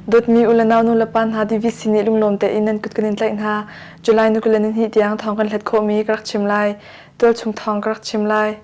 Dawtmi u le naunu le pa hna divi sin i lunglawm tein nan kut kan in tlaih hna. July ni kul le ni hnih tiang thawng kan hlet khawhmi ka rak chim lai. Tualchung thawng ka rak chim lai.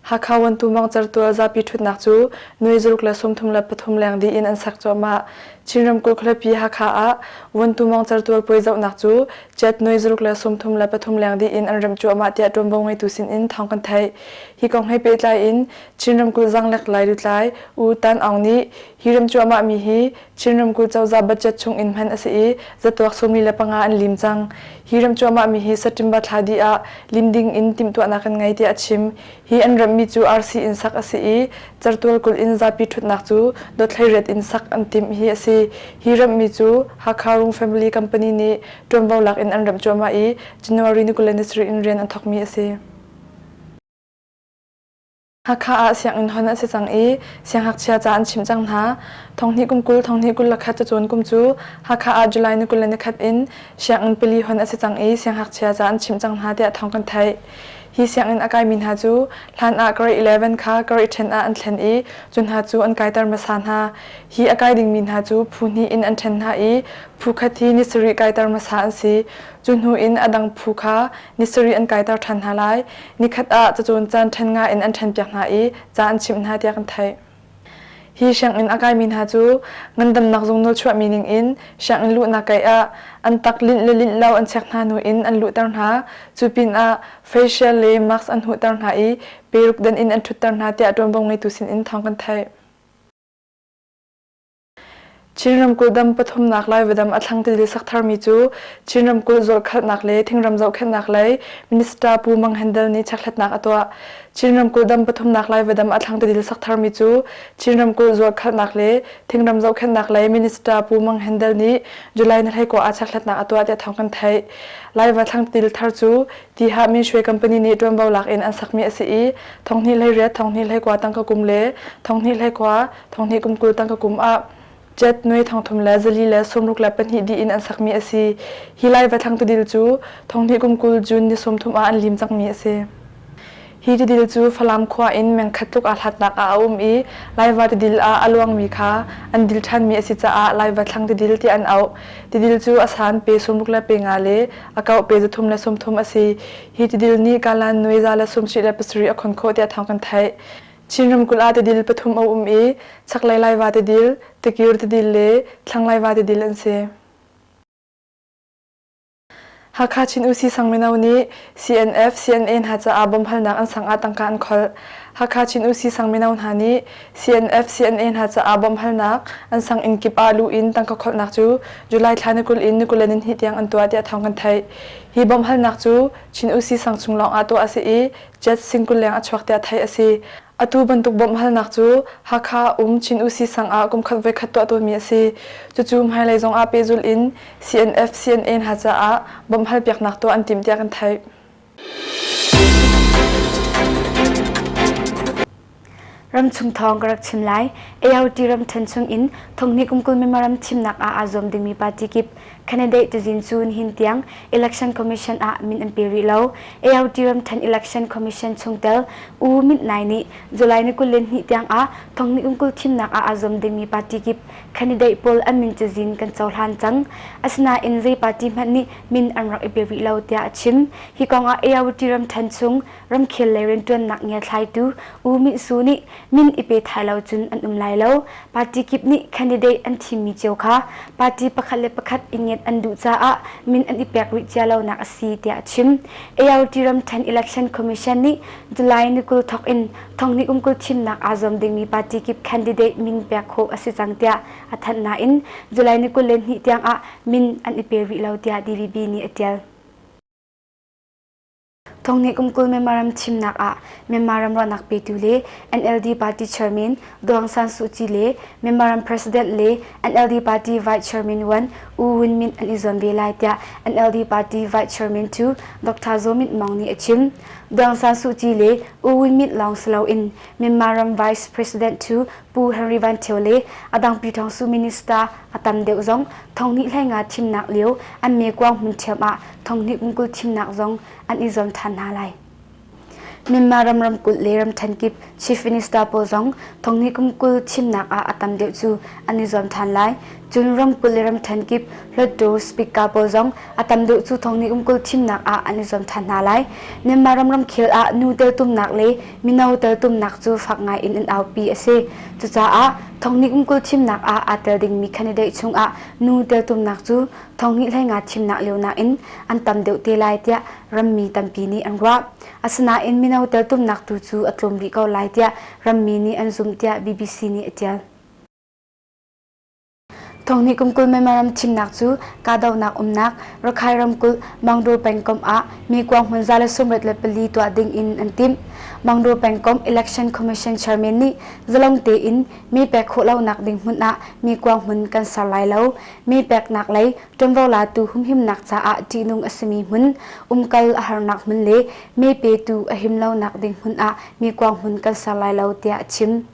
Hakha Wantu Mawng Certual zapi ṭhutnak cu nuai zaruk le sawmthum le pathum leng dih in an sak cuahmah. Chin ramkulh khualipi Hakha ah Wantu Mawng Certual puai zohnak cu jet nuai zaruk le sawmthum le pathum leng dih in an remh cuahmah tiah ṭuanvo ngeitu sin in thawng kan theih. Hi kong he pehtlai in Chin ramkulh zanglek Lailutlai U Tan Aung nih hi rem cuahmahmi hi Chin ramkulh cozah budget chung in hman a si i zatuak sawmli le panga an lim cang. Hi ram cuahmahmi hi Saṭimba thla dih ah lim ding in timhtuahnak kan ngei tiah a chim. Hi an rammi cu arsi in sak a si i Cartual kulh in zapi ṭhutnak cu dotthleiriat in sak an timh hi a si. Hi rammi cu Hakha Rung Family Company nih ṭuanvo lak in an ramh cuahmah i January ni kul le ni sarih in rian an thawkmi a si. Hakha ah sianginn hon an si cang i siangngakchia ca an chim cang hna. Thonghnih kum kul thonghnih kul lakhat cacun kum cu Hakha ah July ni kul le nikhat in sianginn pili hon a si cang i siangngakchia ca an chim cang hna tiah thawng kan theih. Hi sianginn a kaimi hna cu hlan ah karih 11 kha karih ṭhen ah an thlen i cu hna cu an kaiter hmasa hna. Hi a kai dingmi hna cu phu hnih in an ṭhen hna i phu khat hi ni sarih kaiter hmasa an si. Cu hnu in a dang phu kha ni sarih an kaiter ṭhan hna lai. Nikhat ah cacun caan ṭhen nga in an ṭhenpiak hna i ca an chimh hna tiah kan theih. Hi sianginn a kaimi hna cu ngandamnak zung nawlchuahmi ningin sianginn luhnak kei ah an tak linh le linh lo an chek hna hnu in an luhter hna. Cu pinah facial le mask an huhter hna i peruk den in an ṭhutter hna tiah ṭuanvo ngeitu sinin thawng kan theih. Chin ramkulh dam pathumnak Lai vadam a thlang tili sak tharmi cu Chin ramkulh zawlkhalhnak le thingram zohkhenhnak lei Minister Pu Mang Hen Dal nih checkhlatnak a tuah. Chin ramkulh dam pathumnak Lai vadam a thlang tili sak tharmi cu Chin ramkulh zawlkhalhnak le thingram zohkhenhnak lei Minister Pu Mang Hen Dal nih July ni hlei kua ah checkhlatnak a tuah tiah thawng kan theih. Laiva thlang tili thar cu Tihah Min Shwe Company nih ṭuanvo lak in an sakmi a si i thonghnih hlei riat, thonghnih hlei kua tangka kum le thonghnih hlei kua thonghni kum kul tang ka kum ah jet nui thongthum le zali le sumruk le pahnih di in an sakmi a si hi lai va thlang tudil cu thonghni kum kul june ni sawmthum ah an lim cangmi a si hi tidil cu Falam khua in mengkhat tluk aa hlatnak ah a um i laiva tidil ah a luangmi kha an dil ṭhanmi a si caah laiva thlang tidil ti an auh tidil cu a san pe sumruk le pe nga le a kau pe zathum le sumthum a si hi tidil nih kalan nuiza le sumsi le pasarih a khon khawh tiah thawng kan theih Chin ramkulh ah tidil pathum a um i chaklei Laiva tidil, Tikir tidil le Thlanglaiva tidil an si. Hakha Chin UC sang mino nih CNF, CNA hna caah bom halnak an sang ah tangka an kholh. Hakha Chin UC sang mino hna nih CNF, CNA hna caah bom halnak an sang inn kip ah luh in tangka kholhnak cu July thla nikulh in nikulen in hnih tiang an tuah tiah thawng kan theih. Hi bom halnak cu Chin UC sang chung lawng ah tuah a si i Jet singkuleng a chuak tiah theih a si. Atu bantuk bawmhhalnak cu Hakha um Chin UC sang ah kum khat voikhat tuah tawnmi a si. Cucu hmailei zong ah pehzulh in CNF, CNA hna caah bawmhhal piaknak tuah an timh tiah kan theih. Ramchung thawng ka rak chim lai. ART ram ṭhen chungin Thonghni kum kul memorandum thimnak ah aa zuam dingmi party kip candidate tazin cu nihin tiang Election Commission ah min an pe rih lo. ART ram ṭhen Election Commission chungtel U Mint Nai nih July ni kul le ni tiang ah Thonghni kum kul thimnak ah aa zuam dingmi party kip candidate pawl an min cazin kan cohlan cang. Asinain zei party hmanh nih min an rak i pe rih lo tiah a chim. Hi kongah ART ram ṭhen chung ramkhel le rianṭuannak ngiathlaitu U Min Su nih min i pe thai lo cun an um lai lo. Party kip nih candidate an thimmi cio kha party pakhat le pakhat i ngiat an duh caah min an i pek rih cia lonak a si tiah a chim. ART Ramṭhen Election Commission nih July ni kul thawk in thonghni kum kul thimnak aa zuam dingmi party kip candidate min pek khawh a si cang tiah a thanh nain July ni kul le hnih tiangah min an i pe rih lo tiah DVB nih a ṭial. Thong nih kum kul Myanmar ram thimnak ah Myanmar ram ruahnak petu le NLD party chairman Aung Aung San Suu Kyi le Myanmar ram president le NLD party vice chairman Wan U Win Myint an i zuam ve lai tiah NLD party vice chairman tu Dr. Zaw Myint Mong nih a chim. Aung San Suu Kyi le U Win Myint lawng si loin Myanmar ram vice president tu Pu Henry Van Ṭhio le a dang Pyi Ṭhong Su minister a tam deuh zong thonghnih hleinga thimnak lio an mekuang hmun ṭhiam ah thonghnih kum kul thimnak zong an i zuam ṭhan hna lai. Myanmar ram ramkulh le ramṭhen kip chief minister pawl zong thonghnih kum kul thimnak ah a tam deuh cu an i zuam ṭhan lai. Cun ramkulh le ramṭhen kip Hluttaw speaker pawl zong a tam deuh cu thonghnih kum kul thimnak ah an i zuam ṭhan hna lai. Myanmar ram ramkhel ah nu teltumnak le Mino teltumnak cu fak ngai in an aupi a si. Cucaah Thonghni kumkul thimnak ah aa tel dingmi candidate chungah nu teltumnak cu Thonghni hleinga thimnak lio nakin an tam deuh te lai tiah rammi tampi nih an ruah. Asinain mino teltumnak tu cu a tlawm rih ko lai tiah rammi nih an zumh tiah BBC nih a ṭial. Thong hnih kum kul memmaram thimnak cu kahdohnak umnak Rakhai ramkulh Mangdaw pengkomh ah mi kuang hmun za le sumret le pali tuah ding in an timh. Mangdaw pengkomh Election Commission chairman nih zalong tein mi pek khawh lonak ding hmun ah mi kuang hmun kan ser lai lo. Mi peknak lei ṭuanvo latu humhimnak caah ṭihnung a simi hmun, umkal a harnak hmun le mi petu a him lonak ding hmun ah mi kuang hmun kan ser lai lo tiah a chim.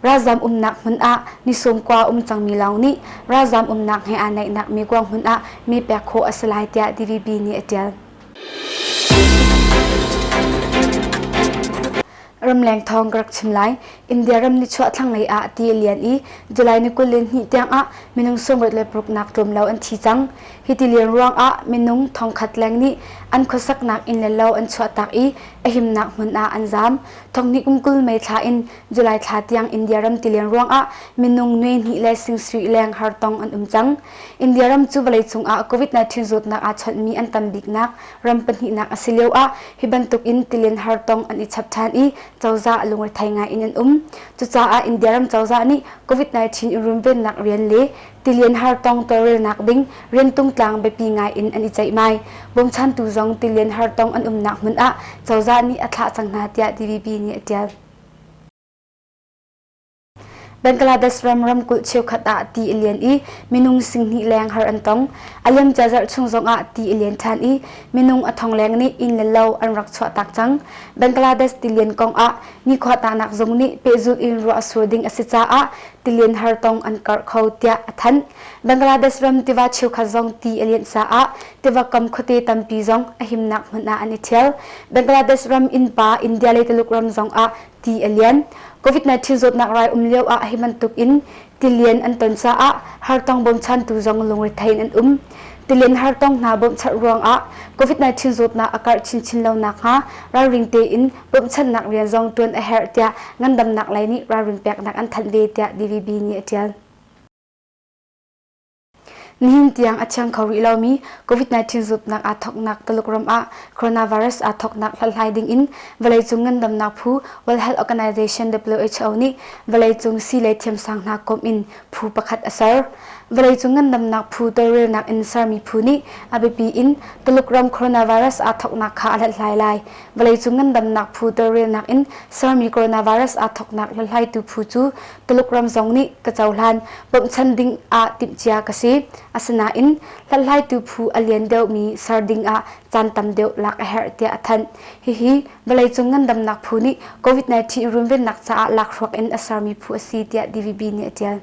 Ralzam umnak hmun ah nisum kua um cangmi lawng nih ralzam umnak he aa naihnak mi kuang hmun ah mi pek khawh a si lai tiah DVB nih a ṭial. Ramleng thawng ka rak chim lai. India ram ni chuah thlanglei ah ti lian i July ni kul le hnih tiang ah minung sungawt le paruknak tlum lo an thi cang. Hi ti lian ruang ah minung thongkhat leng nih an khuasaknak inn le lo an chuahtak i a himnak hmun ah an zaam. Thonghni kum kul mei thla in July thla tiang India ram tileng ruangah minung nuai hnih le sing leng har tong an um cang. India ram cu vawleicung ah COVID-19 zawtnak aa chawnhmi an tam biknak ram pahnihnak a si lio ah hi bantuk in tilen har tong an i chap ṭhan i cozah a lungrethei ngai in an um. Cucaah India ram cozah nih COVID-19 i runvennak rian le tilian har tong tawlrelnak ding rian tungtlang biapi ngai in an i ceihmai. Bawmchantu zong tilian har tong an umnak hmun ah cozah nih a thlah cang hna tiah DVB nih a ṭial. Bangladesh ram ramkulh cheukhat ah ti a lian i minung singhnih leng har an tong. A liam cia zarh chung zong ah ti a lian ṭhan i minung a thongleng nih inn le lo an rak chuahtak cang. Bangladesh tilian kong ah nikhuatanak zung nih pehzulh in ruah a sur ding a si caah tilian har tong an karh kho tiah a thanh. Bangladesh ram tiva cheukhat zong ti a lianh caah Tivakam khuate tampi zong a himnak hmun ah an i thial. Bangladesh ram innpa India le Tuluk ram zong ah ti a lian. COVID-19 zawtnak rai um lio ah hi bantuk in tilian an ton caah hartong bawmchantu zong lungrethei in an um. Tilian hartong hna bawmchat ruangah COVID-19 zawtnak a karh chinchin lonak hnga ralring tein bawmchannak rian zong tuan a herh tiah ngandamnak lei nih ralrin peknak an thanh ve tiah DVB nih a tial. Nihin tiang a thiang kho rih lomi COVID-19 zutnak aa thawknak Tuluk ram ah coronavirus aa thawknak hlathlai dingin vawleicung ngandamnak phu World Health Organization WHO nih vawleicung sii le thiamsang hna komh in phu pakhat a ser. Vawleicung ngandamnak phu tawlrelnak in sermi phu nih a biapi in Tuluk ram coronavirus aa thawknak kha a hlathlai lai. Vawleicung ngandamnak phu tawlrelnak in sermi coronavirus aa thawknak hlathlaitu phu cu Tuluk ram zong nih ka cohlan bawmhchan ding ah timhcia ka si. Asinain hlathlaitu phu a lian deuhmi ser ding ah caan tam deuh lak a herh tiah a thanh. Hihi vawleicung ngandamnak phu nih COVID-19 runvennak caah lakhruak in a sermi phu a si tiah DVB nih a ṭial.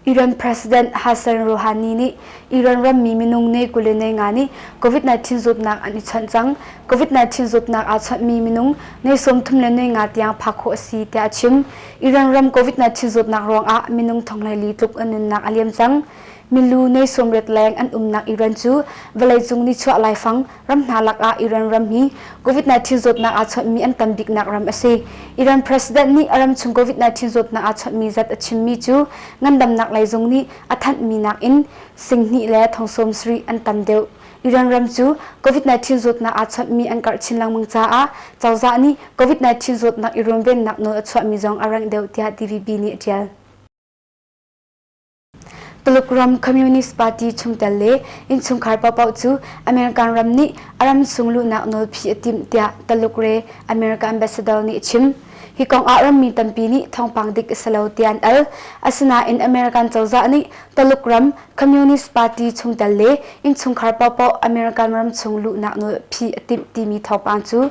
Iran President Hassan Rouhani nih Iran rammi minung ne kule ne nga nih COVID-19 zawtnak an i chawnh cang. COVID-19 zawtnak aa chawnhmi minung ne sawmthum le ne nga tiang phak khawh a si tiah a chim. Iran ram COVID-19 zawtnak ruangah minung thong le li tluk an nunnak a liam cang. Milu ne sawmriat leng an umnak Iran cu vawleicung nichuah laifang Ram hna lakah Iran ram hi COVID-19 zawtnak aa chawnhmi an tam biknak ram a si. Iran president nih a ramchung COVID-19 zawtnak aa chawnhmi zat a chimmi cu ngandamnak lei zung nih a thanhmi nakin singhnih le thong sawmsarih an tam deuh. Iran ram cu COVID-19 zawtnak aa chawnhmi an karh chin lengmang caah cozah nih COVID-19 zawtnak i runvennak nawl a chuahmi zong a rengh deuh tiah DVB nih a ṭial. Tuluk ram Communist Party chungtel le innchungkhar paohpaoh cu American ram nih a ram sung luhnak nawlphi a timh tiah Taluk re America ambassador nih a chim. Hi kong ah rammi tampi nih thawngpang dik a si lo tiah an al. Asinain American cozah nih Taluk ram Communist Party chungtel le innchungkhar paohpaoh American ram chung luhnak nawlphi a timh timi thawngpang cu